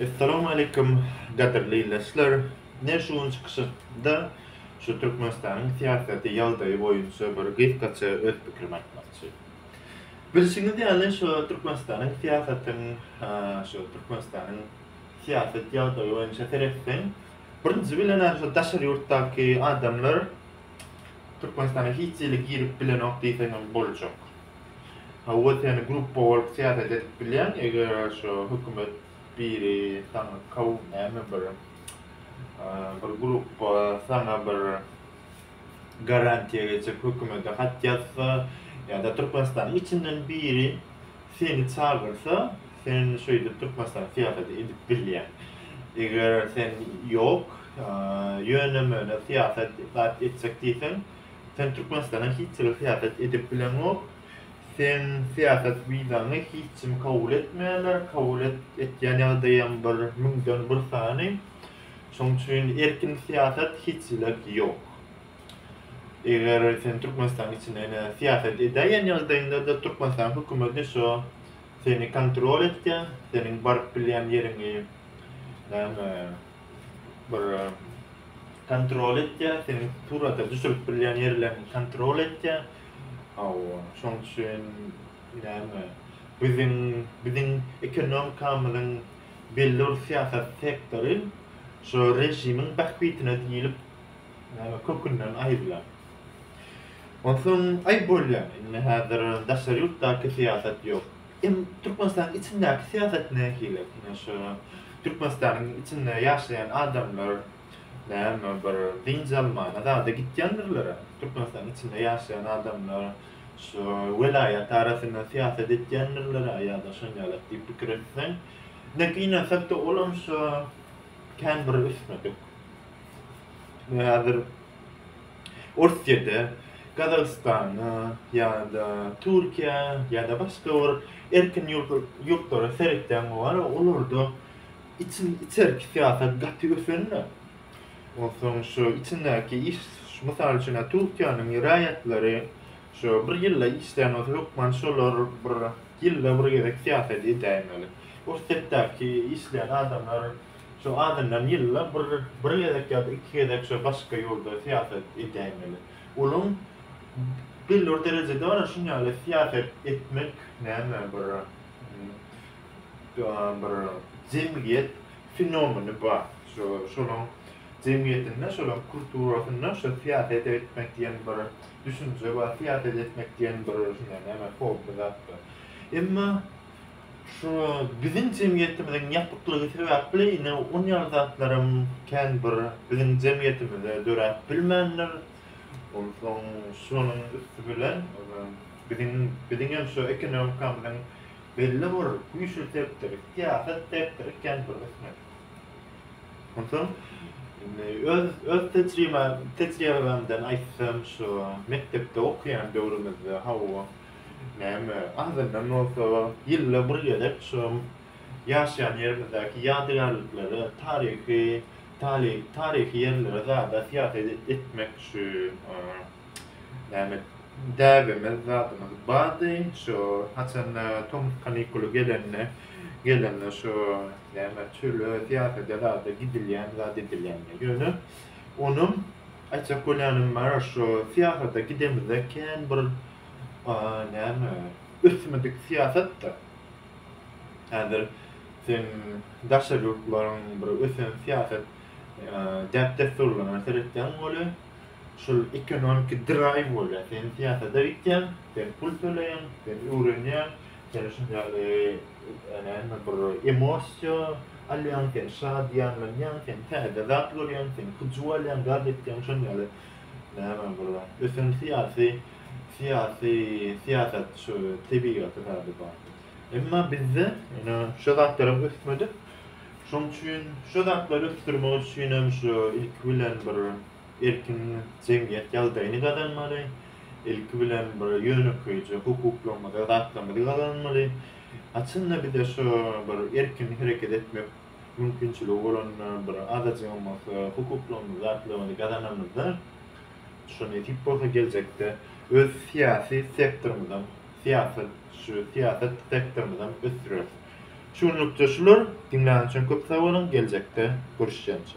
Essalamu aleýkum gadyrly ildeşler! Men şu gün çykyşymda şu Türkmenistanyň syýasaty ýagdaýy boýunça bir gysgaça öz pikrimi aýtmakçy. Bilşiňiz ýaly şu Türkmenistanyň syýasatyň şu Türkmenistanyň syýasat ýagdaýy boýunça seretseň birinji bilen şu daşary ýurtdaky adamlar Türkmenistana hiç hili girip bilenok diýseňem boljak. Hawa seni gruppa bolup syýasat edip bilýän eger şu hökümet biri saňa kaw näme bir bir gruppa saňa bir garantiýa geçip hökümete hat ýazsa ýada Türkmenistanyň içinden biri seni çagyrsa sen şeýdip Türkmenistanyň syýasaty edip bilýän eger sen ýok ýöne möne syýasat zat etjek diýseň Sen Türkmenistana hiç ýyl syýasat edip bileňok. Seň syýasat wizaňy hiç kim kabul etmeýärler, kabul etýän ýagdaýam bir müňden bir sany. Şoň üçin erkin syýasat hiç ýyla ýok. Eger sen Türkmenistanyň içinde ine syýasat edäýen ýagdaýyňda-da Türkmenistanyň hökümeti şo seni kontrol etýär, seniň baryp bilýän ýeriňi näme bir kontrol etýär, seniň surata düşürip bilýän ýerleriňi kontrol etýär. Hawa, şoň üçin näme? Biziň biziň ekonomikamyzyň belli bir syýasat sektory şu režimiň bähbitine diýlip näme kökünden aýrylar. Onsoň aýyp bolýar. Indi häzir daşary ýurtdaky syýasat ýok. Hem Türkmenistanyň içindäki syýasat nähili? Ine şu Türkmenistanyň içinde ýaşaýan adamlar näme bir dynç almana zada gitýändirler-ä. Türkmenistanyň içinde ýaşaýan adamlar şu welaýat arasynda syýasat etýändirler-ä ýa-da şon ýalak diýip pikir etseň. Ine gynansakda olam şu kän bir üstüne dök. Häzir. Orsýete, Gazagystana ýa-da Türkiýä ýa-da başga bir erkin ýurtlara seretýäň bolany olarda içi içerki syýasat gaty ösende onsoň şu içindäki iş mysal üçin Türkiýäniň raýatlary şu bir ýylda işleýän bolsa hökman şolar bir ýylda bir gezek syýasat edäýmeli. Orsýetdäki işleýän adamlar Şo azyndan ýylda bir bir gezek ýa-da iki gezek şo başga ýurda syýasat edäýmeli. Onuň belli derejede bar şun ýaly syýasat etmek näme bir bir jemgyýet fenomeni bar. Şo şolaň jemgyýetinde şolaň kulturasynda şo syýasat etmek diýen bir düşünje bar. Syýasat etmek diýen bir şunday näme hobby zat bar. Emma Şu biziň jemgyýetimiziň ýapyklygy sebäpli ine on ýaly zatlaram kän bir biziň jemgyýetimizde döräp bilmändir. Onsoň şonuň üsti bilen biziň biziňem şu ekonomikamyzyň belli bir güýçli sektory, syýasat sektory kän bir ösmedi. Onsoň indi öz öz tejribämden aýtsam şu mekdepde okaýan döwrümizde hawa Näme, azyndan bolsa, ýylda bir gezek şu ýaşaýan ýerimizdäki ýadygärliklere, taryhy, taly, taryhy ýerlere zada syýahat etmek üçin, näme, däbimiz, zadymyz bardy. Şu haçanda tomus kanikuly gelende, gelende şu, näme, çöle, syýahata zada gidilýän, zat edilýän. Ýöne onuň aýtjak bolýanym bar, şu syýahata gidemizde kän bir näme ösmedik syýasat-da. Häzir sen daşary ýurtlaryň bir ösen syýasat däp-dessurlaryna seretseň welin, şol ekonomiki draýw bolýar. Sen syýasata gitýäň, sen pul töleýäň, sen öwrenýäň, seni şuny ýaly näme bir emosiýa alýaň, sen şadyýanlanýaň, sen täze zat görýäň, sen hyjuw alýaň, zat etýäň, şuny ýaly näme bir ösen syýasy syýasy syýasat şu tebigaty zady bar. Emma bizde ine şu zatlar hem ösmedik. Şoň üçin şu zatlary ösdürmek üçin hem şu ilki bilen bir erkin jemgyýet ýagdaýyny gazanmaly. Ilki bilen bir ýönekeýje hukuklarymyzy, zatlarymyzy gazanmaly. Haçan-da bize şu bir erkin hereket etmek mümkinçiligi bolanda bir azajygam bolsa hukuklarymyzy, zatlarymyzy gazananymyzda şo nesip bolsa geljekde öz syýasy sektorymyzam, syýasat, şu syýasat sektorymyzam ösdüreris. Şu günlükçe şular, diňlän üçin köp sag boluň, geljekde görüşýänçä.